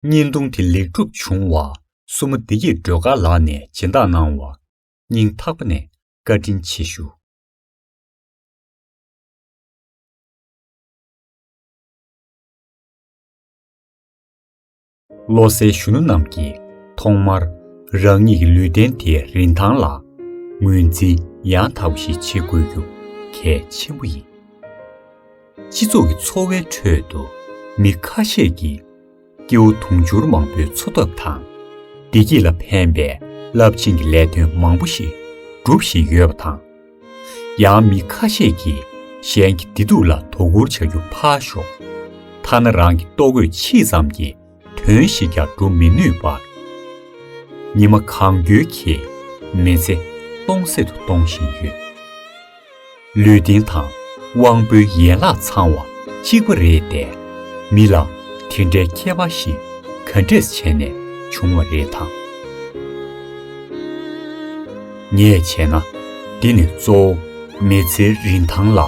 བརྙན་ཐུང་དེ་ལེགས་གྲུབ་བྱུང་བ། སྲུ་མོ་བདེ་སྐྱིད་སྒྲོལ་དཀར་ལགས་ནས་སྦྱིན་བདག་གནང་བ། སྙིང་ཐག་པ་ནས་བཀའ་དྲིན་ཆེ་ཞུ། བློ་གསལ་གཞོན་ནུ་རྣམས་ཀྱིས་ཐོག་མར་རང་ཉིད་ཀྱི་ལུས་རྟེན་དེའི་རིན་ཐང་ལ་ངོས་འཛིན་ཡང་དག་པ་ཞིག་བྱེད་དགོས་རྒྱུ་གལ་ཆེན་པོ་ཡིན། སྤྱི་ཚོགས་ཀྱི་འཚོ་བའི་ཁྲོད་དུ་མི་ཁ་ཤས་ཀྱིས་སྐྱེ་བོ་དུང་ཕྱུར་མང་པོའི་འཚོ་ཐབས་དང་བདེ་སྐྱིད་ལ་ཕན་པའི་རླབས་ཆེན་གྱི་ལས་དོན་མང་པོ་ཞིག་སྒྲུབ་བཞིན་ཡོད་པ་དང། ཡང་མི་ཁ་ཤས་ཀྱིས་གཞན་གྱི་བདེ་སྡུག་ལ་དོ་ཁུར་བྱ་རྒྱུ་ཕར་ཞོག་ཐ་ན་རང་གི་ལྟོ་གོས་ཕྱིས་ཙམ་གྱི་དོན་ཞིག་ཀྱང་སྒྲུབ་མི་ནུས་པར། ཉི་མ་གང་འགྱུར་གྱིས་མི་ཚེ་སྟོང་ཟད་དུ་གཏོང་བཞིན་ཡོད། ལུས་རྟེན་དང་དབང་པོའི་ཡན་ལག་ཚང་བ་གཅིག་པ་རེད་དེ། མི་ལ་དེ་འདྲའི་ཁྱད་པར་ཞིག་ག་འདྲས་བྱས་ནས་བྱུང་བ་རེད་དམ། ངས་བྱས་ན། འདི་ནི་གཙོ་བོ་མི་ཚེའི་རིན་ཐང་ལ་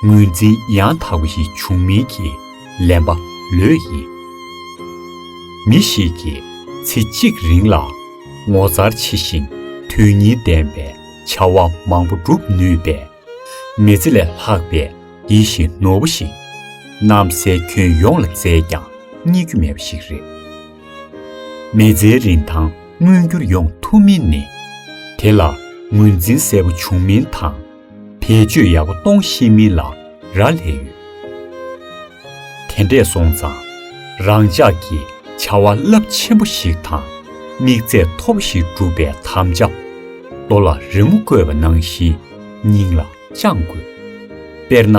ངོས་འཛིན་ཡང་དག་པ་ཞིག་འབྱུང་མིན་གྱི་ལན་པ་ལོས་ཡིན། མི་ཞིག་གིས་ཚེ་གཅིག་རིང་ལ་ངོ་མཚར་ཆེ་ཞིང་དོན་སྙིང་ལྡན་པའི་བྱ་བ་མང་པོ་བསྒྲུབ་ནུས་པས། མི་ཚེ་ལས་ལྷག་པའི་ཡིད་བཞིན་ནོར་བུ་ཞིག། གནམ་སའི་ཁྱོན་ཡོངས་ལ་བཙལ་ཀྱང་རྙེད་རྒྱུ་མེད་པ་ཞིག་རེད། མི་ཚེའི་རིན་ཐང་མངོན་འགྱུར་ཡོང་ཐུབ་མིན་ནི། དེ་ལ་ངོས་འཛིན་གསལ་པོ་བྱུང་མིན་དང། བེད་སྤྱོད་ཡག་པོ་གཏོང་ཤེས་མིན་ལ་རག་ལས་ཡོད། དེ་འདྲས་སོང་ཙང། རང་ཅག་གིས་བྱ་བ་རླབས་ཆེན་པོ་ཞིག་དང། དམིགས་ཚད་མཐོ་པོ་ཞིག་བསྒྲུབ་པའི་དམ་བཅའ། རྡོ་ལ་རི་མོ་བརྐོས་པ་ནང་བཞིན་སྙིང་ལ་བཅངས་དགོས། དཔེར་ན།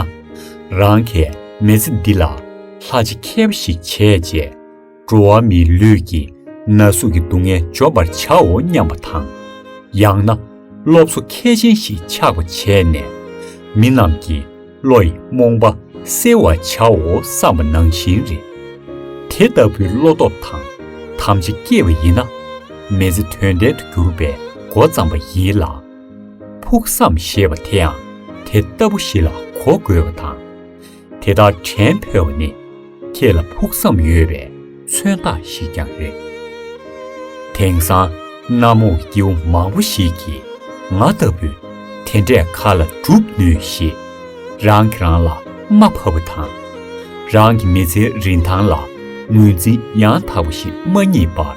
རང་གི་མི་ཚེ་འདི་ལ་ལྷ་རྗེ་མཁས་པ་ཞིག་བྱས་རྗེས། འགྲོ་བ་མིའི་ལུས་ཀྱི་ན་ཟུག་གི་སྡུག་བསྔལ་འཇོམས་པར་བྱའོ་སྙམ་པ་དང། ཡང་ན་སློབ་གསོ་མཁས་ཅན་ཞིག་ཆགས་པ་བྱས་ནས། མི་རྣམས་ཀྱི་བློ་ཡི་རྨོངས་པ་སེལ་བར་བྱའོ་བསམ་པ་ནང་བཞིན་རེད། དེ་ལྟ་བུའི་བློ་སྟོབས་དང་དམ་བཅའ་སྐྱེས་པ་ཡིན་ན། མེ་ལྕེ་དོན་ལྡན་དུ་གྱུར་པའི་མགོ་བརྩམས་པ་ཡིན་ལ། ཕུགས་བསམ་ཞེས་པ་དེའང་དེ་ལྟ་བུ་ཞིག་ལ་གོ་དགོས་པ་དང། དེ་དག་དྲན་ཕོད་བ་ནི་ཁྱེད་ལ་ཕུགས་བསམ་ཡོད་པའི་མཚོན་རྟགས་ཤིག་ཀྱང་རེད། དེང་སང་གནའ་རྨོག་སྐྱེ་བོ་མང་བོ་ཞིག་གིས་ང་ལྟ་བུ་དེ་འདྲས་ག་ལ་བསྒྲུབ་ནུས་ཞེས་རང་གིས་རང་ལ་རྨ་ཕབ་པ་དང། རང་གི་མི་ཚེའི་རིན་ཐང་ལ་ངོས་འཛིན་ཡང་དག་པ་ཞིག་མ་རྙེད་པར།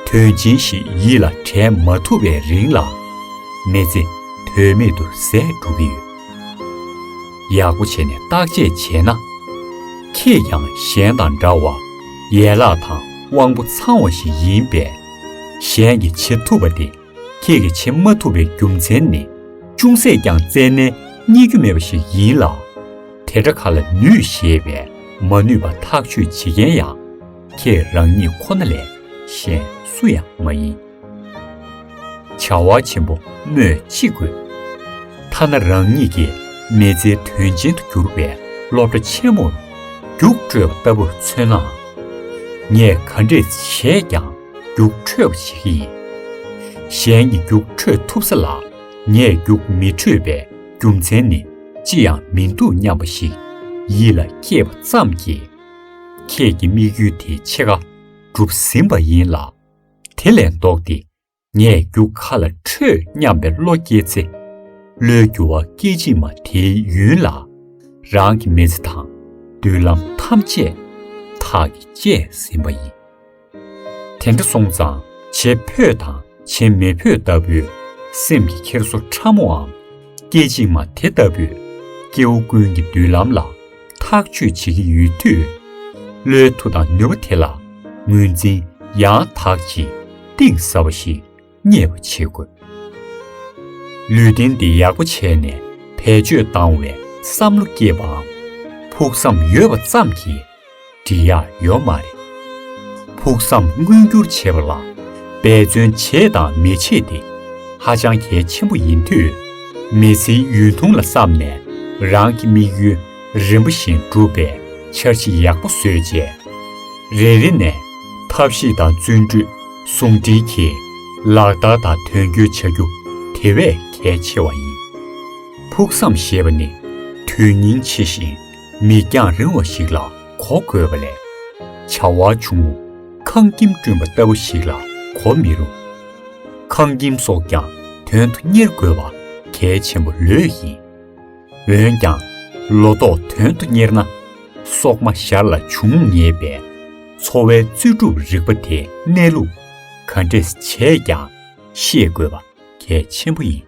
དོན་ཆེན་ཞིག་ཡིད་ལ་དྲན་མ་ཐུབ་པའི་རིང་ལ་མི་ཚེ་དོན་མེད་དུ་ཟད་འགྲོ་གི་ཡོད། ཡག་པོ་བྱས་ནས་བརྟག་དཔྱད་བྱས་ན། ཁྱེད་ཀྱང་གཞན་དང་འདྲ་བར་ཡན་ལག་དང་དབང་པོ་ཚང་བ་ཞིག་ཡིན་པས། གཞན་གྱིས་བྱེད་ཐུབ་པ་དེ་ཁྱེད་ཀྱིས་བྱེད་མ་ཐུབ་པའི་རྒྱུ་མཚན་ནི་ཅུང་ཟད་ཀྱང་བཙལ་ནས་རྙེད་རྒྱུ་མེད་པ་ཞིག་ཡིན་ལ། དེ་འདྲ་ག་ལ་ནུས་ཞེས་པས་མ་ནུས་པ་ཐག་གཅོད་བྱེད་མཁན་ཡང་ཁྱེད་རང་ཉིད་ཁོ་ན་ལས་གཞན་སུ་ཡང་མ་ཡིན། བྱ་བ་ཆེན་པོ་སྨོས་ཅི་དགོས། ཐ་ན་རང་ཉིད་ཀྱི་མི་ཚེའི་དོན་ཆེན་དུ་གྱུར་པའི་སློབ་གྲྭ་ཆེན་མོར་རྒྱུགས་འཕྲོད་པ་ལྟ་བུར་མཚོན་ནའང། ངས་ག་འདྲས་བྱས་ཀྱང་རྒྱུགས་འཕྲོད་པ་བྱེད་ཀྱི་ཡིན། གཞན་གྱི་རྒྱུགས་འཕྲོད་ཐུབ་ས་ལ་ངས་རྒྱུགས་མི་འཕྲོད་པའི་རྒྱུ་མཚན་ནི་ཅི་ཡང་མི་འདུག་སྙམ་པ་ཞིག་ཡིད་ལ་སྐྱེས་པ་ཙམ་གྱིས། ཁྱེད་ཀྱི་དམིགས་ཡུལ་དེ་ཕྱེད་ཀ་འགྲུབ་ཟིན་པ་ཡིན་ལ། དེ་ལས་ལྡོག་སྟེ་ངས་རྒྱུ་ག་ལ་འཕྲོད་སྙམ་པའི་བློ་སྐྱེས་ཚེ། བློའི་རྒྱུ་བ་སྐད་ཅིག་མ་དེའི་ཡུན་ལ། རང་གི་མི་ཚེ་དང་མདུན་ལམ་ཐམས་ཅད་ཐག་གིས་བཅད་ཟིན་པ་ཡིན། དེ་འདྲ་སོང་ཙང་བྱེད་ཕོད་དང་བྱེད་མི་ཕོད་ལྟ་བུའི་སེམས་ཀྱི་འཁྱེར་སོ་ཕྲ་མོའམ་སྐད་ཅིག་མ་དེ་ལྟ་བུས་སྐྱེ་བོ་ཀུན་གྱི་མདུན་ལམ་ལ། ཐག་གཅོད་བྱེད་ཀྱི་ཡོད་དུས། བློའི་མཐུ་དང་ནུས་པ་དེ་ལ་ངོས་འཛིན་ཡང་དག་ཅིང་གཏིང་ཟབ་པ་ཞིག་རྙེད་པ་བྱེད་དགོས། ལུས་རྟེན་འདི་ཡག་པོ་བྱས་ནས་བེད་སྤྱོད་བཏང་བའི་བསམ་བློ་སྐྱེས་པའམ་ཕུགས་བསམ་ཡོད་པ་ཙམ་གྱིས། འབྲི་ཡག་ཡོད་མ་རེད། ཕུགས་བསམ་མངོན་འགྱུར་བྱེད་པ་ལ་འབད་བརྩོན་བྱས་དང་མི་བྱེད་དེ་ཧ་ཅང་གལ་ཆེན་པོ་ཡིན་དུས། མི་ཚེའི་ཡུན་ཐུང་ལ་བསམ་ནས་རང་གི་དམིགས་ཡུལ་རིམ་པ་བཞིན་བསྒྲུབ་པའི་འཆར་གཞི་ཡག་པོ་བཟོས་རྗེས། རེ་རེ་ནས་ཐབས་ཤེས་དང་བརྩོན་འགྲུས་ཟུང་སྦྲེལ་གྱིས་ལག་བསྟར་དང་དོན་འཁྱོལ་བྱ་རྒྱུ་དེ་བས་གལ་ཆེ་བ་ཡིན། ཕུགས་བསམ་ཞེས་པ་ནི་དོན་སྙིང་ཆེ་ཞིང། མིག་རྒྱང་རིང་བ་ཞིག་ལ་གོ་དགོས་པ་ལས། བྱ་བ་ཆུང་ངུ་ཁང་ཁྱིམ་བསྐྲུན་པ་ལྟ་བུ་ཞིག་ལ་གོ་མི་རུང། ཁང་ཁྱིམ་སོགས་ཀྱང་དོན་དུ་གཉེར་དགོས་པ་གལ་ཆེན་པོ་ལོས་ཡིན། འོན་ཀྱང་ལོ་ཏོག་དོན་དུ་གཉེར་ན། སོག་མ་ཞར་ལ་འབྱུང་ངེས་པས། འཚོ་བའི་རྩོལ་སྒྲུབ་རིག་པ་དེ་གནས་ལུགས་ག་འདྲས་བྱས་ཀྱང་ཤེས་དགོས་པ་གལ་ཆེན་པོ་ཡིན།